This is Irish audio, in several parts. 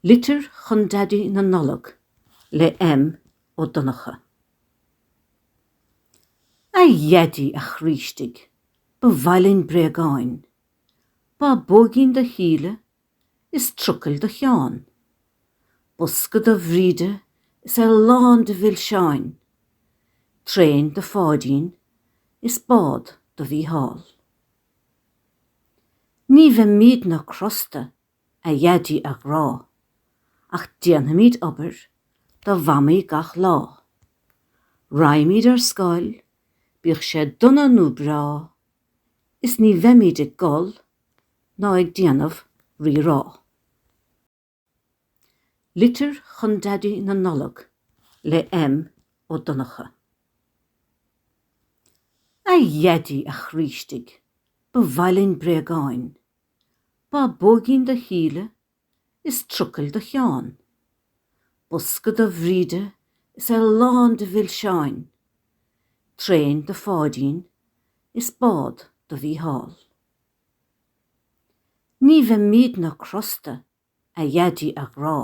Litir chun Daidí na Nollag le M. Ó Donnchadha. A Dhaidí, a chroí istigh, ba mhaith linn bréagáin, bábóigín do Shíle is trucaill do Sheán, bosca do Bhríde is é lán de mhilseáin, traein do Pháidín is bád do Mhícheál. Ní bheimidne crosta, a Dhaidí a ghrá, ach déanfaimid obair do Mhamaí gach lá. Raghaimid ar scoil, bíodh sé dona nó breá, is ní bheimid ag gol ná ag déanamh rírá. Litir chun Daidí na Nollag le M. Ó Donnchadha. A Dhaidí, a chroí istigh, ba mhaith linn bréagáin, bábóigín do Shíle is trucail do Sheán, bosca do Bhríde is é lán de mhilseáin, traein do Pháidín is bád do Mhícheál. Ní bheimidne crosta a Dhaidí a ghrá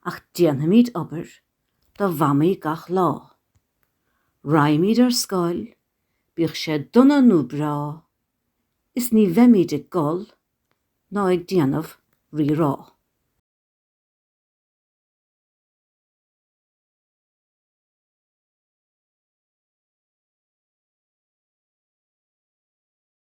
ach déanfaimid obair do Mhamaí gach lá. Raghaimid ar scoil, bíodh sé dona nó breá, is ní bheimid ag gol ná ag déanamh rírá.